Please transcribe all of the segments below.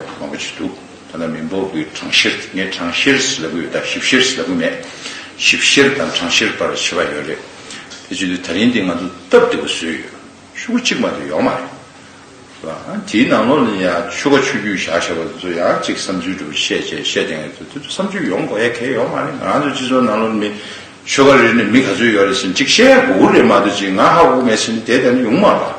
མང་པོ་བྱས་འདུག་ཐ་ན་མི་འབོར་གྱི་གྲངས་བཤེར་ནི་གྲངས་བཤེར་ལབ་གི་ཡོད་སྟབས་ཞིབ་བཤེར་ལབ་གི་མེད། ཞིབ་བཤེར་དང་གྲངས་བཤེར་བར་ཕྱེད་པ་ཡོད་རེད། དེ་བྱས་དུས་ད་རིང་འདི་ང་ཚོ་སྟབས་བདེ་པོ་བཟོས་ཡོད། ཆུ་ཁ་གཅིག་མ་གཏོགས་ཡོག་མ་རེད། དེའི་ནང་ལོགས་ནས་ཡང་ཆུ་ཁ་ཆུ་རྒྱུས་བཞག་བཞག་པ་དེ་ཚོ་ཡང་གཅིག་བསམ་ཚུལ་གྲུབ་བཤད་བྱས་བཤད་བསྟན་གྱི་དེ་ཚོ་བསམ་ཚུལ་ཡོང་གོ་ཡ་གལ་ཡོག་མ་རེད་ང་ཚོ་སྤྱི་ཚོགས་ནང་ལོགས་ནས་མི་ཆོལ་ཁ་རེ་རེ་ནས་མི་ག་ཚོད་ཡོག་རེད་ཟེར་གཅིག་བཤད་ཡ་གོ་གོ་རེད་མ་གཏོགས་གཅིག་ང་ཧ་གོ་གོ་མེད་ཟེར་ནི་དེ་ལྟ་ནི་ཡོང་མ་རེད།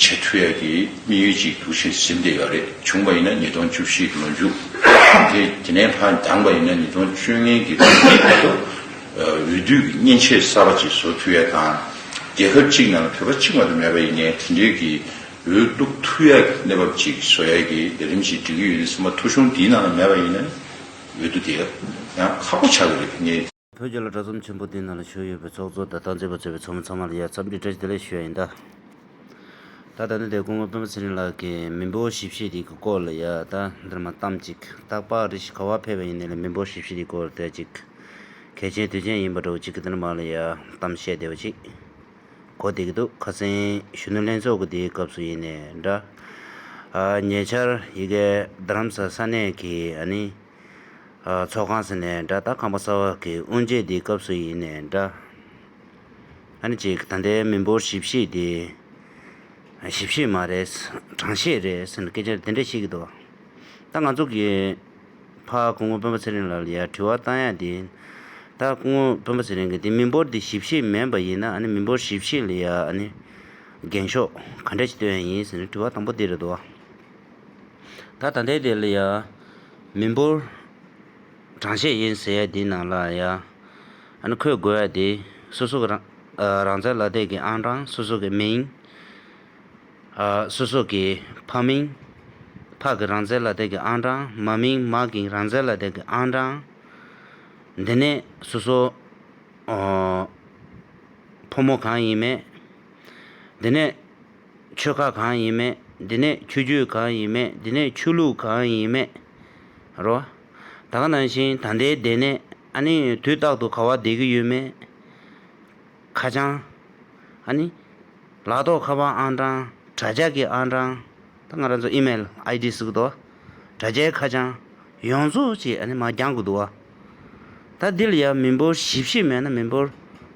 ཆེས་མཐུ་ཡག་གི་དམིགས་ཡུལ་ཅིག་འདུག་ཕྱིར་སིམ་འདི་ག་རེ་བྱུང་བ་ཡིན་ན་ཉིས་སྟོང་བཅུ་བཞི་ལོ་མཇུག་དེ་དེ་ནས་ཕར་འདང་པ་ཡིན་ན་ཉིས་སྟོང་བཅུ་ལྔའི་དགེ་བསྐོས་མིའི་བར་དུ་འོས་བསྡུ་གི་མཉེན་ཆས་གསར་པ་ཅིག་བཟོ་མཐུ་ཡག་དང། རྒྱལ་ཁབ་གཅིག་ནང་ལ་བོད་པ་གཅིག་མ་གཏོགས་མེད་པ་ཡིན་ནའི་དེ་འབྲེལ་གྱི་འོས་བསྡུ་མཐུ་ཡག་གི་གནས་བབ་ཅིག་བཟོ་ཡག་གི་ལས་རིམ་ཞིག་སྒྲིག་གི་ཡོད་ནའི་སེམས་པ་ཐུགས་གཞུང་འདིའི་ནང་ལ་མེད་པ་ཡིན་ན་འོས་བསྡུ་དེ་ཡང་ཁག་པོ་ཆགས་ཀྱི་རེད་ངས་བོད་རྒྱ་ལ་དྲ་ཚོམས་ཆེན་པོ་དེའི་ནང་ལ་ཞུགས་ཡོད་པའི་ཚོགས་གཙོ་དང་ཏང་ཙེ་པ་གཙོས་པའི་ཚོགས་མི་ཚང་མ་ལ་ཡང་འཚམས་འདྲི་བཀྲ་ཤིས་བདེ་ལེགས་ཞུ་ཡ་ཡིན། ད་ད་ནི་དེ་སྐུ་ངོ་སྤེན་པ་ཚེ་རིང་ལགས་ཀྱིས་མི་འབོར་ཞིབ་བཤེར་རིགས་ཀྱི་སྐོར་ལ་ཡ་ད་འདིར་མ་བལྟམས་ཅིག་སྟག་ལྤགས་རི་ཞིག་ག་བར་འཕེལ་བ་ཡིན་ནས་ལ་མི་འབོར་ཞིབ་བཤེར་རིགས་སྐོར་ལ་བལྟས་ཅིག་གལ་ཆེན་དུས་ཆེན་ཡིན་པ་འདྲ་བོ་ཅིག་གིས་འདིར་མ་ལ་ཡ་བལྟམས་བཤད་བདེ་བ་ཅིག་གོ་བདེ་གི་འདུག་ཁ་ཚན་གཞོན་ནུ་ལྷན་ཚོགས་ཀྱི་དེའི་སྐབས་སུ་ཡིན་ནས་འདྲ། ཉེ་ཆར་ཡི་གེ་རྡ་རམ་ས་ས་གནས་ཀྱི་ཨ་ནི། ཚོགས་ཁང་ཟེར་ནས་འདྲ་ད་ཁང་པ་གསར་བ་གི་དབུ་འབྱེད་དེ་སྐབས་སུ་ཡིན་ནས་འདྲ། ཨ་ནི་ཅིག་ད་ལྟའི་མི་འབོར་ཞིབ་བཤེར་དེ། ཞིབ་བཤེར་མ་རེད། གྲངས་བཤེར་རེད་ཟེར་ནས་སྐད་ཆ་དེ་འདྲ་བཤད་ཀྱི་འདུག་ད་ང་ཚོ་གི། ཕ་སྐུ་ངོ་སྤེན་པ་ཚེ་རིང་ལགས་ལ་ཡར་དྲི་བ་བཏང་ཡག་དེ། ད་སྐུ་ངོ་སྤེན་པ་ཚེ་རིང་གིས་དེ་མི་འབོར་དེ་ཞིབ་བཤེར་མིན་པ་ཡིན་ན་ཨ་ནི་མི་འབོར་ཞིབ་བཤེར་ལ་ཡར་ཨ་ནི། འགེངས་ཤོག་ག་འདྲ་ཞིག་བཏོན་ཡག་ཡིན་ཟེར་ནས་དྲི་བ་དང་པོ་དེ་རེད་འདུག། ད་ད་འདས་དེ་ལ་ཡང། མི་འབོར་གྲངས་བཤད་ཡིན་ཟེར་ཡ་དེ་ནང་ལ་ཡང། འཁོད་དགོས་ཡ་དེ། སོ་སོ་གི་རང་བཙན་ལ་དད་ཀྱི་ཨང་གྲངས་སོ་སོ་ཀྱི་མིང། སོ་སོ་ཀྱི་ཕ་མིང། ཕ་གི་རང་བཙན་ལ་དད་ཀྱི་ཨང་གྲངས་མ་མིང་མ་གིང་རང་བཙན་ལ་དད་ཀྱི་ཨང་གྲངས། འདི་ནས་སོ་སོ། ཕོ་མོ་གང་ཡིན་མེད། འདི་ནས། ཆོལ་ཁ་གང་ཡིན་མེད་འདི་ནས་ཆོས་རྒྱུད་གང་ཡིན་མེད་འདི་ནས་ཆོས་ལུགས་གང་ཡིན་མེད་རོ། ད་ག་ནང་བཞིན་ད་ལྟའི་སྡེ་ནས་ཨ་ནི་དུས་རྟག་ཏུ་ག་བ་བསྡད་ཀྱི་ཡོད་མེད། ཁ་བྱང། ཨ་ནི། ལག་ཐོག་ཁ་པར་ཨང་གྲངས་དྲ་རྒྱ་ཀྱི་ཨང་གྲངས་ད་ང་རང་ཚོ་ཨི་མེལ་ཨའི་ལྡི་ཟིག་གི་འདུག་ཨ། དྲ་རྒྱའི་ཁ་བྱང། ཡོངས་རྫོགས་ཀྱིས་ཨ་ནི་མ་འགྱངས་གི་འདུག་ཨ། ད་འདི་ལ་ཡང་མི་འབོར་བཞི་བཞི་མེད་ན་མི་འབོར་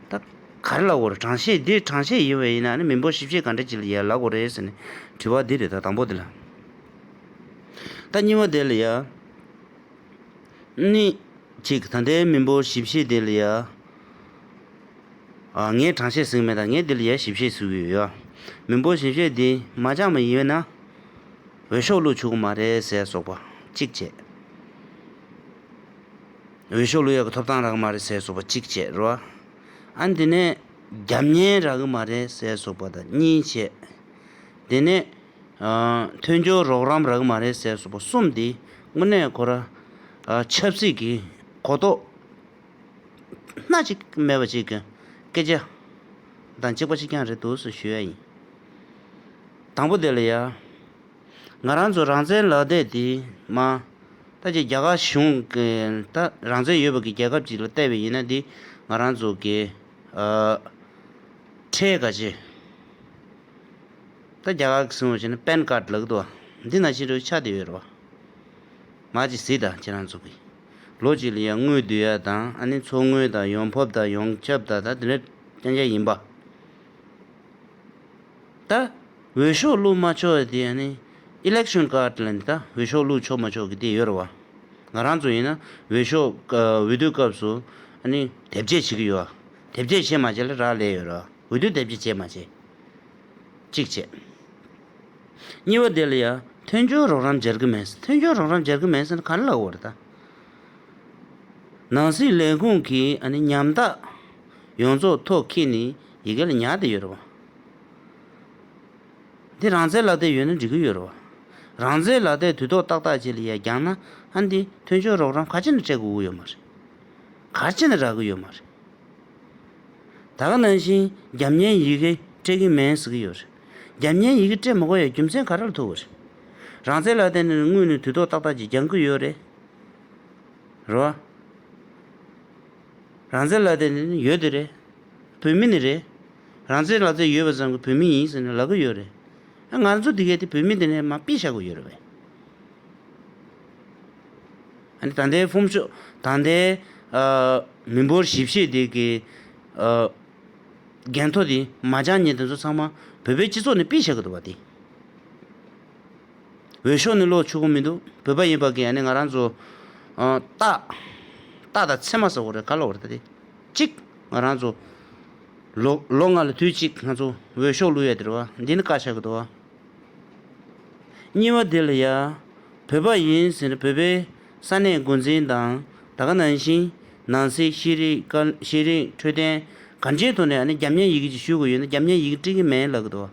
ད་ག་རེ་ལ་གོ་རེ་གྲངས་བཤད་འདི་གྲངས་བཤད་ཡིན་བས་ཡིན་ན་མི་འབོར་བཞི་བཞི་ག་འདྲ་ཅིག་ལ་ཡང་ལ་གོ་རེ་ཟེར་ནས་དྲི་བ་འདི་རེད་ད་དང་པོ་འདི་ལ། ད་གཉིས་པ་འདི་ལ་ཡང་ནི་ཅིག་ད་འདའི་མི་འབོར་བཞི་བཞི་འདི་ལ་ཡང་ངས་གྲངས་བཤད་ཟིག་མེད་ད་ངས་འདི་ལ་ཡང་བཞི་བཤད་ཟིག་ཡོད་ཡ། མི་འབོར་བཞི་བཤད་འདི་མ་ཅང་མ་ཡིན་བས་ན་འོས་ཤོག་བླུག་ཆོག་གི་མ་རེད་ཟེར་སོགས་པ་གཅིག་བྱས། འོས་ཤོག་ལོས་ཡག་གི་ཐོབ་ཐང་རག་གི་མ་རེད་ཟེར་སོགས་པ་གཅིག་བྱས་རོ། ཨ་དེ་ནས་རྒྱབ་གཉེར་རག་གི་མ་རེད་ཟེར་སོགས་པ་དང་གཉིས་བྱས། དེ་ནས་མཐུན་སྦྱོར་རོགས་རམ་རག་གི་མ་རེད་ཟེར་སོགས་པ་གསུམ་དེ་དངོས་གནས་ཁོ་ར་ཆབ་སྲིད་ཀྱི་གོ་རྟོགས་སྣ་གཅིག་མེད་པ་ཅིག་གི་སྐད་ཆ་དང་གཅིག་པ་གཅིག་རྐྱང་རེད་འདུག་ཟེར་ཞུ་ཡ་ཡིན། དང་པོ་དེ་ལ་ཡ། ང་རང་ཚོ་རང་བཙན་ལག་དེབ་དེ་མ་ལྟ་ཅི་རྒྱ་གར་གཞུང་གི་ལྟ་རང་བཙན་ཡོད་པ་གི་རྒྱལ་ཁབ་ཅིག་ལ་བལྟ་བའི་ཡིན་ན་དེ་ང་རང་ཚོ་གི་ཁྲལ་ག་ཅི་ལྟ་རྒྱ་གར་གི་སྲིང་བ་ཅི་ན་པན་ཀར་ལག་ཏུ་བ་འདི་ན་ཅི་རོ་ཆ་དེ་ཡོད་རོ་བ་མ་ཅི་སྲིད་ད་ཁྱེད་རང་ཚོ་གི་ལོ་གཅིག་ལ་ཡ་དངུལ་བསྡུ་ཡ་དང་ཨ་ནི་འཚོ་དངུལ་དང་ཡོང་འཕབ་དང་ཡོང་ཁྱབ་དང་ད་དེ་འདྲ་ཅན་ཅན་ཡིན་པ། ད། འོས་ཤོག་བླུག་མ་ཆོག་ཡ་དེ་ཡ་ནི། Election Card། ལན། ད་འོས་ཤོག་བླུག་ཆོག་མ་ཆོག་གི་དེ་ཡོད་རེད་བ། ང་རང་ཚོ་ཡིན་ན་འོས་ཤོག་འོས་བསྡུ་སྐབས་སུ་ཨ་ནི་དེབ་སྐྱེལ་བྱེད་ཀྱི་ཡོད་བ། དེབ་སྐྱེལ་བྱེད་མ་བྱེད་ལ་རག་ལས་ཡོད་རེད་བ། འོས་བསྡུ་དེབ་སྐྱེལ་བྱེད་མ་བྱེད། གཅིག་བྱས། གཉིས་པ་དེ་ལ་ཡ། མཐུན་འགྱུར་རོགས་རམ་སྦྱར་གྱི་མེད་ཟེར། མཐུན་འགྱུར་རོགས་རམ་སྦྱར་གྱི་མེད་ཟེར་ན་ག་རེ་ལ་འོས་རེད་ད། ནང་སྲིད་ལས་ཁུངས་ཀྱི་ཨ་ནི་ཉམ་ཐག་ཡོངས་རྫོགས་ཐོག་ཁེ་ནི་ཡི་གེ་ལ་ཉག་དེ་ཡོད་རེད་བ། འདི་རང་བཙན་ལག་དེབ་ཡོད་ན་འགྲིག་གི་ཡོད་རེད་བ། རང་བཙན་ལག་དེབ་དུས་ཐོག་ཏག་ཏག་ཅིག་ལ་ཡ་རྒྱག་ན་ཨ་འདི་མཐུན་སྦྱོར་རོགས་རམ་ག་ཅི་ནས་སྤྲད་དགོས་དགོས་ཡོད་མ་རེད། ག་ཅི་ནས་རག་གི་ཡོད་མ་རེད། ད་ག་ནང་བཞིན་རྒྱབ་བརྙན་ཡི་གེ་སྤྲད་ཀྱིན་མེད་ཟེར་གི་ཡོད་རེད། རྒྱབ་བརྙན་ཡི་གེ་སྤྲད་མ་གོ་ཡ་རྒྱུ་མཚན་ག་རེ་ལ་ཐུག་གི་རེད། རང་བཙན་ལག་དེབ་ནི་དངོས་ནས་དུས་ཐོག་ཏག་ཏག་ཅིག་རྒྱག་གི་ཡོད་རེད། རེད་བ། རང་བཙན་ལག་དེབ་ནི་ཡོད་དེ་རེད། བོད་མི་ནི་རེད། རང་བཙན་ལག་རྩལ་ཡོད་པ་ཙམ་གྱི་བོད་མི་ཡིན་ཟེར་ནས་ལབ་གི་ཡོད་རེད། ཨ་ང་ཚོ་འདི་གའི་དེ་བོད་མི་དེ་ནས་མ་དཔེ་བཞག་གི་ཡོད་རེད་བས། ཨ་ནི་ད་ལྟའི་ཧྥུམ་ཤོག་ད་ལྟའི་མི་འབོར་བཞི་བཞི་དེ་གའི་རྒན་ཐོ་དེ་མ་ཅང་ཉེ་དེ་ཚོ་ཚང་མ་བོད་པའི་སྤྱི་ཚོགས་ནས་དཔེ་བཞག་གི་འདུག་བ་དེ། འོས་ཤོག་ནི་ལོག་ཆུག་གི་མི་འདུག་བོད་པ་ཡིན་པ་གིས་ཨ་ནི་ང་རང་ཚོ། རྟགས། རྟགས་དང་ཚེར་མ་ཟ་གོ་རེད་ག་ལོག་རེད་ད་དེ། གཅིག། ང་རང་ཚོ། ལོ་ལོ་ལྔ་ལ་དུས་གཅིག་ང་ཚོ་འོས་ཤོག་བླུ་ཡ་དེ་རེད་བ། འདི་ནི་བཀའ་ཤག་གི་འདུ་བ། གཉིས་བ་དེ་ལ་ཡ། བོད་པ་ཡིན་ཟེར་ན་བོད་པའི་ས་གནས་མགོ་འཛིན་དང་ད་ག་ནང་བཞིན་ནང་སྲིད་ཤེས་རིག་དཀའ་ཤེས་རིག་འཕྲོད་བསྟེན་གང་ཅིའི་ཐོག་ནས་ཨ་ནི་རྒྱ་མྱན་ཡིག་གཅིག་ཞུ་དགོས་ཡོད་ན་རྒྱ་མྱན་ཡིག་སྤྲི་གི་མེད་ལབ་གི་འདུ་བ།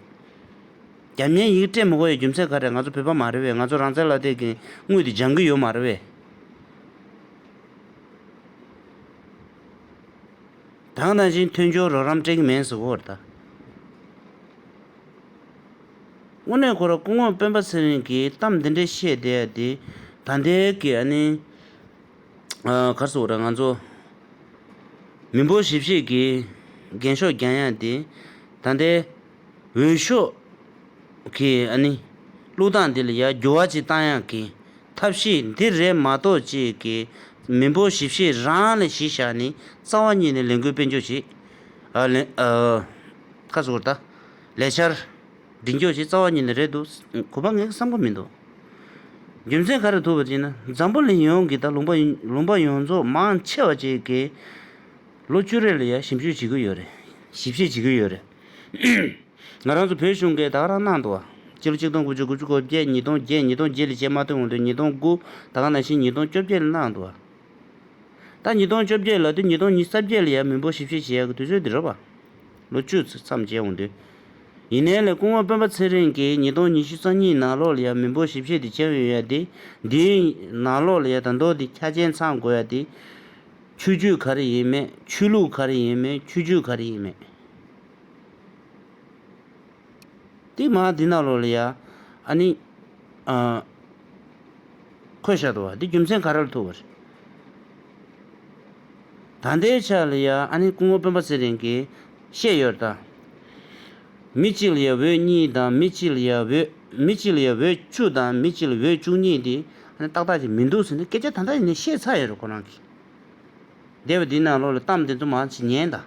རྒྱ་མྱན་ཡིག་སྤྲད་མི་དགོས་ཡ་རྒྱུ་མཚན་ག་རེད་ང་ཚོ་བོད་པ་མ་རེད་བས་ང་ཚོ་རང་བཙན་ལ་དེ་གི་དངུལ་དེ་སྦྱང་གི་ཡོད་མ་རེད་བས། དང་ནང་བཞིན་མཐུན་སྦྱོར་རོགས་རམ་སྤྲད་ཀྱི་མིན་གཟུ་བོར་ལྟ། དངོས་གནས་ཁོ་ར་སྐུ་ངོ་སྤེན་པ་ཚེ་རིང་གིས་གཏམ་འདི་འདྲའི་བཤད་བསྡད་ཡ་དེ་ད་འདས་ཀྱི་ཨ་ནི། གར་སོང་ར་ང་ཚོ་མི་འབོར་ཞིབ་བཤད་ཀྱི་རྒན་ཤོག་རྒྱང་ཡ་དེ་ད་འདས། འོས་ཤོག་གིས་ཨ་ནི། ཀླུ་སྟངས་འདི་ལ་ཡར་རྒྱུ་བ་ཅིག་བཏང་ཡག་གི། ཐབས་ཤེས་འདི་རེད་མ་གཏོགས་ཅིག་གི། མི་འབོར་ཞིབ་བཤེར་རང་ལ་གཞི་བཞག་ནི། རྩ་བ་གཉིས་ནས་ལས་འགུལ་སྤེལ་འཇོག་བྱེད། ཨ་ལན། ཁ་སོ་བར་ལྟ། ལས་འཆར། སྒྲིག་འཇོག་བྱེད་རྩ་བ་གཉིས་ནི་རེད་འདུག་གོ་བ་ངའི་བསམ་ཁོ་མི་འདུག། རྒྱུ་མཚན་ག་རེ་ཐུག་པ་ཅིག་ན་འཛམ་བུ་གླིང་ཡོངས་ཀྱི་དང་ལུང་པ་ལུང་པ་ཡོངས་རྫོགས་མང་ཆེ་བ་ཅིག་གིས། ལོ་བཅུ་རེ་ལ་ཡར་ཞིབ་བཤེར་བྱེད་ཀྱི་ཡོད་རེད། ང་རང་ཚོ་བོད་གཞུང་གིས་དག་རང་གནང་འདུག་བ། སྤྱི་ལོ་ཆིག་སྟོང་དགུ་བཅུ་དགུ་ཅུ་གོ་བརྒྱད་ཉིས་སྟོང་བརྒྱད་ཉིས་སྟོང་བརྒྱད་ལས་བྱེ་མ་ཐོན་འོང་དུས་ཉིས་སྟོང་དགུ། ད་ག་ནང་བཞིན་ཉིས་སྟོང་བཅོ་བརྒྱད་ལ་གནང་འདུག་བ། ད་ཉིས་སྟོང་བཅོ་བརྒྱད་ལ་དུས་ཉིས་སྟོང་ཉིས་ས་བརྒྱད་ལ་ཡང་མི་འབོར་ཞིབ་བཤེར་བྱེད་ཡག་གི་དུས་ཚོད་འདི་རོལ་བ། ལོ་བཅུ་མཚམས་བརྒྱད་འོང་དུས། ཡིན་ནའི་ལས་སྐུ་ངོ་དཔོན་པ་ཚེ་རིང་གིས་ཉིས་སྟོང་ཉི་ཤུ་རྩ་གཉིས་ནང་ལོགས་ལ་ཡང་མི་འབོར་ཞིབ་བཤེར་འདི་བྱེད་འོས་ཡ་དེ། འདིའི། ནང་ལོགས་ལ་ཡ་ད་མདོ་འདི་ཁྱ་ཅན་ཚང་དགོས་ཡ་དེ། ཆོས་རྒྱུད་ག་རེ་ཡིན་མེད་ཆོས་ལུགས་ག་རེ་ཡིན་མེད་ཆོས་རྒྱུད་ག་རེ་ཡིན་མེད། དེ་མ་དེ་ན་ལོ་ལ་ཡ་ཨ་ནི་ཨ། ཁོས་ཤ་ཏོ་བ་དེ་རྒྱུ་མཚན་ག་རེར་ཐུག་པ་རེད། ད་ལྟའི་ཆ་ལ་ཡ་ཨ་ནི་སྐུ་ངོ་དཔོན་པ་ཚེ་རིང་གིས་བཤད་ཡོད་ལྟར། མི་གཅིག་ལ་ཡ་འོད་གཉིས་དང་མི་གཅིག་ལ་ཡ་འོད་མི་གཅིག་ལ་ཡ་འོད་བཅུ་དང་མི་གཅིག་ལ་འོད་བཅུ་གཉིས་དེ་ཨ་ནི་ཏག་ཏག་ཅིག་མི་འདུག་ཟེར་ནས་སྐད་ཆ་ད་ལྟ་ཡིན་ནས་བཤད་ཚར་ཡོད་རེད་ཁོ་རང་གིས། སྡེ་བ་འདི་ན་ལོ་ལ་གཏམ་འདི་ཚོ་མང་ཆེ་ཉན་དང་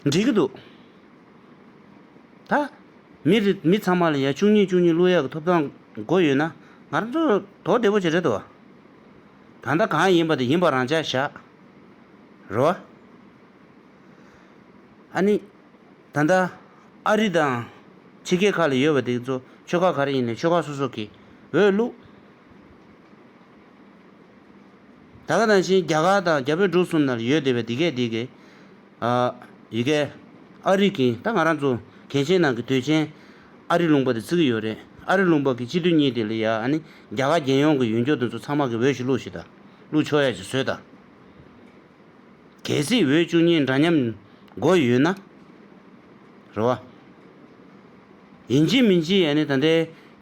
འགྲིག་གི་འདུག་ད། མི་རེ་མི་ཚང་མ་ལ་ཡང་བཅུ་གཉིས་བཅུ་གཉིས་གླུ་ཡག་གི་ཐོབ་ཐང་དགོས་ཡོད་ན་ང་རང་ཚོ་དོག་བདེ་པོ་ཅིག་རེད་དོ། ད་ལྟ་གང་ཡིན་པ་དེ་ཡིན་པ་རང་ཅག་བཞག་རོ། ཨ་ནི། ད་ལྟ་ཨ་རི་དང་ཕྱི་རྒྱལ་ཁག་ལ་ཡོད་པ་དེ་ཚོ་ཆོལ་ཁ་ག་རེ་ཡིན་ནས་ཆོལ་ཁ་སོ་སོ་གིས་འོས་བླུགས། ད་ག་དང་ཕྱིན་རྒྱ་གར་དང་རྒྱ་བོད་འབྲུག་གསུམ་ནར་ཡོད་དེ་བས་འདི་གས་འདི་གས། ཨ། ཡི་གས། ཨ་རིག་གིན་ད་ང་རང་ཚོ་གངས་ཅན་ནང་གི་དུས་ཆེན་ཨ་རི་ལུང་པ་དེ་ཚིག་གི་ཡོད་རེད་ཨ་རི་ལུང་པ་གི་སྤྱི་དུས་གཉིས་དེ་ལ་ཡ་ཨ་ནི་རྒྱ་གར་རྒྱལ་ཡོངས་གི་ཡུལ་འགྱོ་དེ་ཚོ་ཚང་མ་གི་འོས་ཤིག་བླུགས་ཤིག་ད། བླུགས་ཆོག་ཡ་ཞིག་བཟོས་ད། གལ་སྲིད་འོས་བཅུ་གཉིས་འདྲ་མཉམ་མགོ་ཡོད་ན། རེད་བ། ཡིན་གཅིག་མིན་གཅིག་ཡ་ནི་ད་ལྟའི་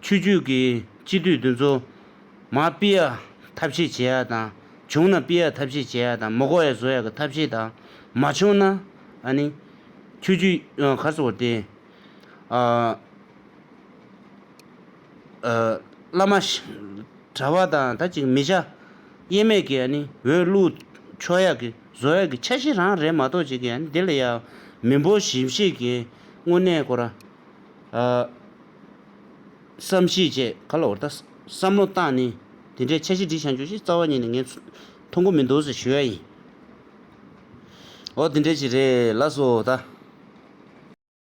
ཆོས་རྒྱུད་ཀྱི་སྤྱི་འཐུས་འདི་ཚོ། མ་སྤི་ཡ་ཐབས་ཤེས་བྱེད་ཡ་དང་བྱུང་ན་སྤི་ཡ་ཐབས་ཤེས་བྱེད་ཡ་དང་མོ་གོ་ཡ་བཟོ་ཡ་གི་ཐབས་ཤེས་དང་མ་བྱུང་ན། ཨ་ནི། ཆོས་རྒྱུད། གར་སོ་བ་སྟེ། ཨ། བླ་མ། གྲྭ་བ་དང་ད་ཅིག་མི་བྱ། གཡེལ་མེད་ཀྱི་འོད་བླུག། ཆོས་ཡག་གི་བཟོ་ཡག་གི་ཆ་བཞི་རང་རེད་མ་གཏོགས་ཅིག་གིས་འདི་ལ་ཡ། མི་འབོར་གཞི་བཞེས་ཀྱི་དངོས་གནས་སྐོར། བསམ་གཞིག་བཅས་ག་ལ་འོར་ད། བསམ་བློ་བཏང་ནས་དེ་འདྲའི་ཆ་བཞི་འབྲི་བཞག་འགྱོ་ཞེས་རྩ་བ་ཉིད་ནས་ངས་མཐོང་གི་མི་འདུག་ཟེར་ཞུ་ཡ་ཡིན། འོ་དེ་འདྲའི་ཞིག་རེད་ལགས་སོ་ད།